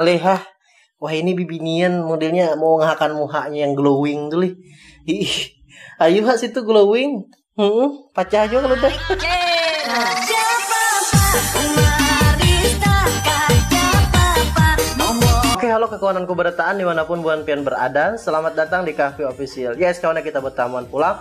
Alih hah. Wahini bibinian modelnya maungahakan muhanya yang glowing tu lih. Hiih. Ayu ha situ glowing. Hmm, pacah jua kalu dah. Oke halo kakawananku barataan dimanapun buhan pian berada, selamat datang di Kahvi Official. Yes kawan ya kita betamuan pulang.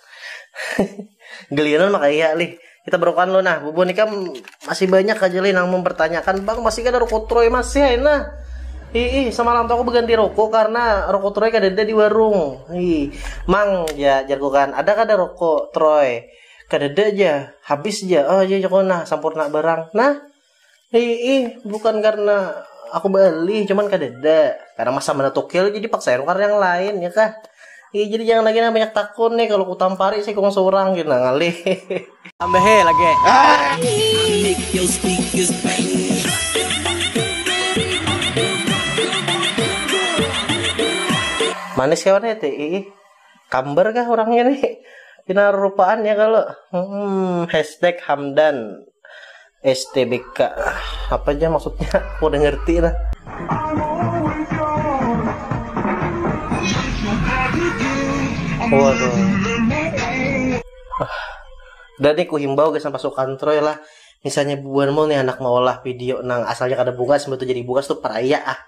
Geliran maka iya lih. Kita berukan lu nah, bubuhan ikam masih banyak aja lih nang mempertanyakan bang masih kada rokok troy masih ay nah. Ih, ih, semalam tuh aku berganti rokok karena rokok troy kada ada di warung. Ih, mang ya jarku kan, ada kada rokok troy? Kada ada aja, habis aja. Oh iya jaku nah, sampurna barang. Nah, Hiih, bukan karena aku beli, cuman kadada. Karena masa mana tukil, jadi paksa yang nukar yang lain, ya kah? Hiih, jadi jangan lagi nah banyak takun nih, kalau kutampari si ikung surang gin nah ngalih. Tambahi lagi. Manis kawan ya ti, iih. Kamber kah orangnya nih? Pina rupaan ya kalau. Hmm, hashtag Hamdan. STBK apa aja maksudnya aku udah ngerti lah waduh dan nih ku himbau guys sampai sukantroy lah misalnya buan mau nih anak mau olah video nang asalnya kada bungas betul jadi bungas tuh peraya ah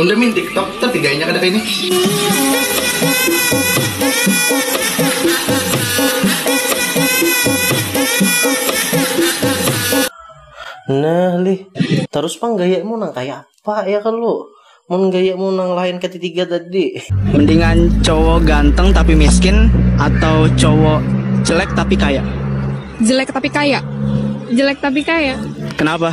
Unda main tiktok tapi gayanya kada kaya ni. Nah lih, tarus pang gayamu nang kaya apa ya kalu? Mun gayamu nang lain kaya titiga tadi. Mendingan cowok ganteng tapi miskin atau cowok jelek tapi kaya? Jelek tapi kaya. Jelek tapi kaya. Kenapa?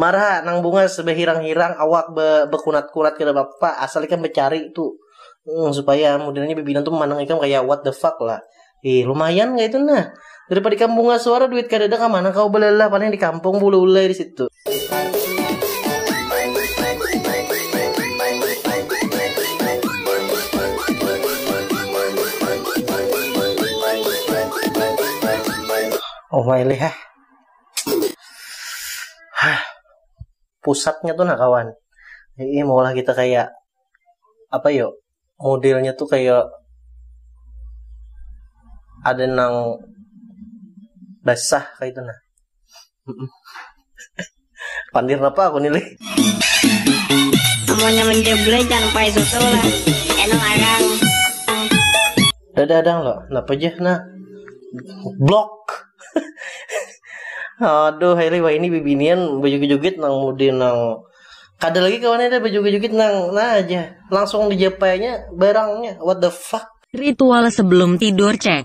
Marha nang bungas bahirang-hirang awak ba bakunat-kunat kada papa asal ikam bacari tu um supaya mudannya bibina tu mandang ikam kaya what the fuck lah ih lumayan kaitu nah daripada ikam bungas wara duit kadada kamana kawa balalah paling di kampung bulaulai di situ. Omayleh hah. pusatnya tuh nah kawan ini maulah kita kayak apa yo modelnya tuh kayak ada nang basah kayak itu nah Pandir napa aku nilai? Amunnya menjeblai jangan pakai susu lah. Enak arang. Dadah dang lo, napa aja nah? Blok. Aduh, Hairi wah ini bibinian baju jugit nang mudi nang kada lagi kawannya ada baju jugit nang nah aja langsung dijapainya barangnya what the fuck ritual sebelum tidur cek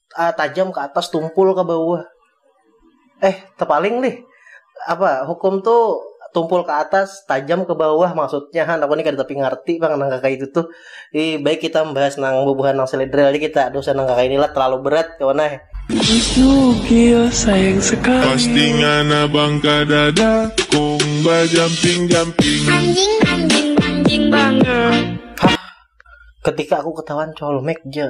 uh, tajam ke atas tumpul ke bawah eh tepaling nih apa hukum tuh tumpul ke atas tajam ke bawah maksudnya han aku nih kada tapi ngerti bang nang kakak itu tuh Ih, baik kita membahas nang bubuhan nang selidril aja kita dosa nang kakak inilah terlalu berat kawan eh Nugil sayang sekali Pasti ngana bang kada dakung Bajamping-jamping Anjing, anjing, anjing banget Hah? Ketika aku ketahuan colmek je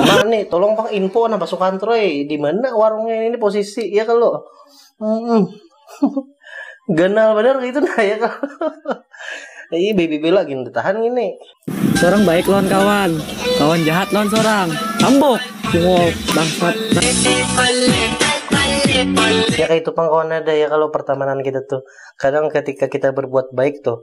Nah nih tolong pang info nah pasukan troy di mana warungnya ini posisi ya kalau hmm. ganal benar gitu nah ya kalau ini baby bela gini ditahan ini seorang baik lawan kawan kawan jahat lawan seorang tambok wow bangsat ya kayak itu pang kawan ada ya kalau pertemanan kita tuh kadang ketika kita berbuat baik tuh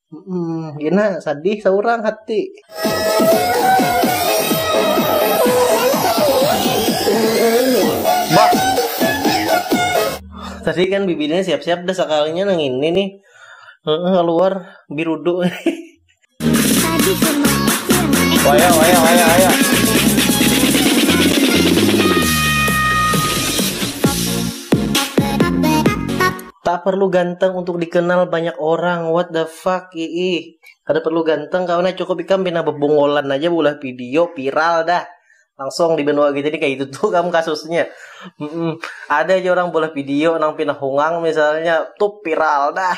Hmm, gina sadih seorang hati. Bah. Tadi kan bibirnya siap-siap dah sekalinya nang ini nih. Keluar birudu. Waya, waya, waya, waya. Tak perlu ganteng untuk dikenal banyak orang, what the fuck iih. Kada perlu ganteng kawan ai, cukup ikam pina bebongolan aja beulah video, viral dah. Langsung di benua kita ni kaya itu tuh kam kasusnya. Ada aja orang beulah video nang pina hongang misalnya, tup viral dah.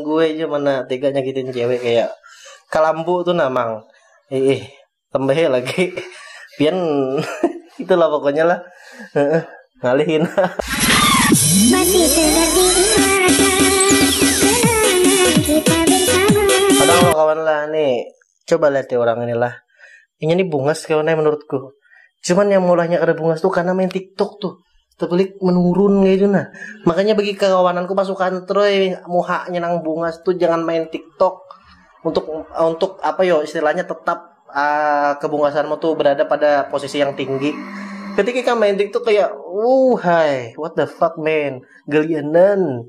gue aja mana tega nyakitin cewek kayak kalambu tuh namang ih eh, tambah lagi pian itulah pokoknya lah ngalihin masih ada kawan lah nih Coba lihat ya orang ini lah. Ini nih bungas kawannya menurutku. Cuman yang mulanya kada bungas tuh karena main TikTok tuh. Tebelik menurun kayak gitu nah. Makanya bagi kawananku pasukan troy muhanya nang bungas tuh jangan main TikTok untuk untuk apa yo istilahnya tetap uh, kebungasanmu tuh berada pada posisi yang tinggi ketika kamu main TikTok kayak, uh hai, what the fuck man, gelianan,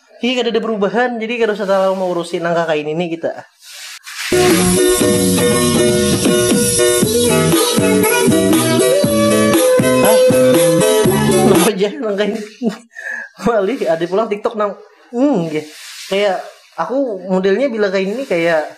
Iya kada ada perubahan, jadi kada usah terlalu mengurusi nang kakain ini kita. Hai, apa aja nang kain? Malih ada pulang TikTok nang, hmm, kayak aku modelnya bila kain ini kayak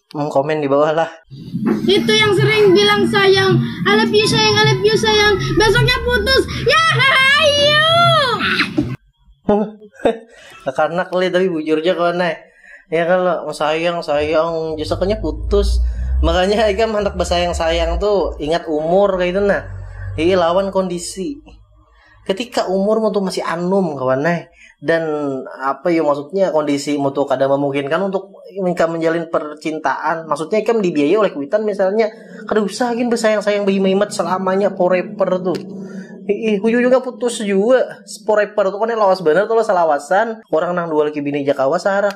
Hmm, komen di bawah lah. Itu yang sering bilang sayang, I love you sayang, I love you sayang. Besoknya putus. Ya, ayo. Karena kali tapi bujurnya kau naik. Ya kalau oh, sayang sayang besoknya putus. Makanya Aika mantak bersayang sayang tuh ingat umur kayak itu nah. Iya lawan kondisi. Ketika umurmu tuh masih anum kawan eh dan apa ya maksudnya kondisimu tuh kada memungkinkan untuk ikam menjalin percintaan maksudnya ikam dibiayai oleh kuitan misalnya kada usah gin bersayang-sayang behimat selamanya forever tuh Ih, ujung-ujungnya putus juga. Forever tuh kan lawas bener tuh salawasan. Orang nang dua laki bini jakawa sarak.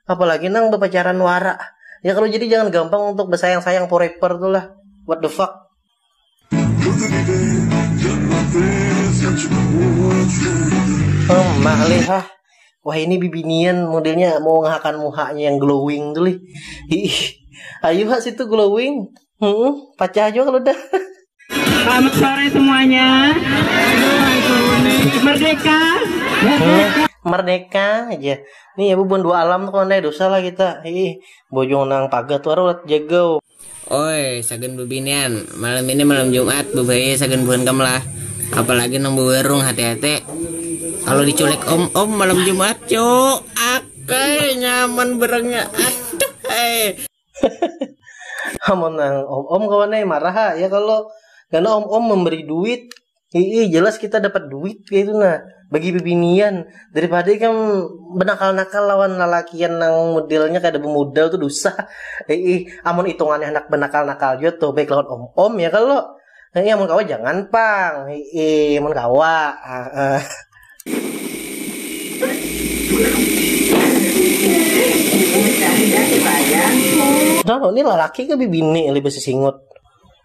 Apalagi nang bepacaran wara. Ya kalau jadi jangan gampang untuk bersayang-sayang forever tuh lah. What the fuck? Humm mak lih hah wah ini bibinian modelnya meungahakan muhanya yang glowing tu lih iih ayu ha situ glowing humm pacah jua kalu dah Selamat sore semuanya. Merdeka. Merdeka aja. Nih ya bubuhan dua alam tuh kondai dosa lah kita. Ih, bojong nang pagar tuh aruh jegau. Oi, sagan bebinian, malam ini malam jumat, bebahaya sagan buhan kam lah. Apalagi nang bewerung, hati-hati. Kalo diculik om-om malam jumat, cuk, akay, nyaman berengnya, aduh ai. Amun nang om-om kawan ai marah ha, ya kalo, ngana om-om memberi duit, Iya jelas kita dapat duit kayak itu nah bagi bibinian daripada kan benakal-nakal lawan lalakian nang modelnya kada bemodal tuh dusah ih amun hitungannya handak benakal-nakal jua tuh baik lawan om-om ya kalo ih amun kawa jangan pang ih amun kawa Nah, ini lalaki ke bibini lebih sisingut.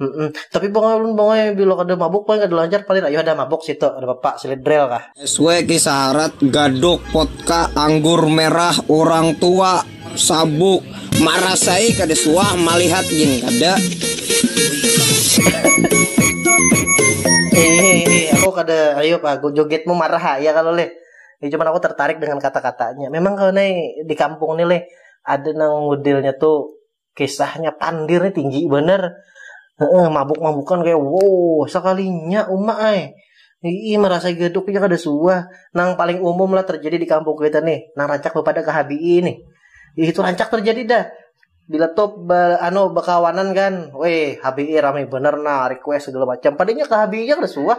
Mm-mm. Tapi bang ulun bang eh, bila kada mabuk paling kada lancar paling ayo ada mabuk situ ada bapak silit brel kah. SW kisah harat, gadok, potka, anggur merah, orang tua, sabuk. Marasai kada suah malihat gin kada. Hehehe, aku kada ayo pak, aku jogetmu marah ha, ya kalau leh. Ya, cuman aku tertarik dengan kata-katanya. Memang kalau nih di kampung nih leh ada nang modelnya tuh kisahnya pandir nih tinggi bener Heeh, mabuk-mabukan kayak wow sekalinya umak ay Ii merasa geduk ya kada suah nang paling umum lah terjadi di kampung kita nih nang rancak bepada ke HBI nih itu rancak terjadi dah bila top ba, anu bekawanan kan weh HBI ramai bener nah request segala macam padanya ke HBI nya kada suah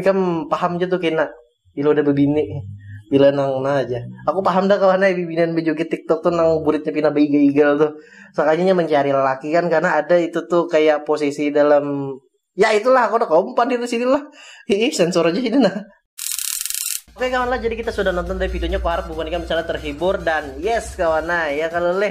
Ikam paham ja tu kena bila udah bebini bila nang nah aja aku paham dah kawan ai bibinian bejoget tiktok tu nang buritnya pina beigal-igal tu sakalinya inya mencari lelaki kan karena ada itu tuh kayak posisi dalam ya itulah aku udah kaum padir di sini lah hiih sensor aja ini nah Oke kawan lah, jadi kita sudah nonton dari videonya, aku harap bukan ikan misalnya terhibur dan yes kawan nah ya kalau leh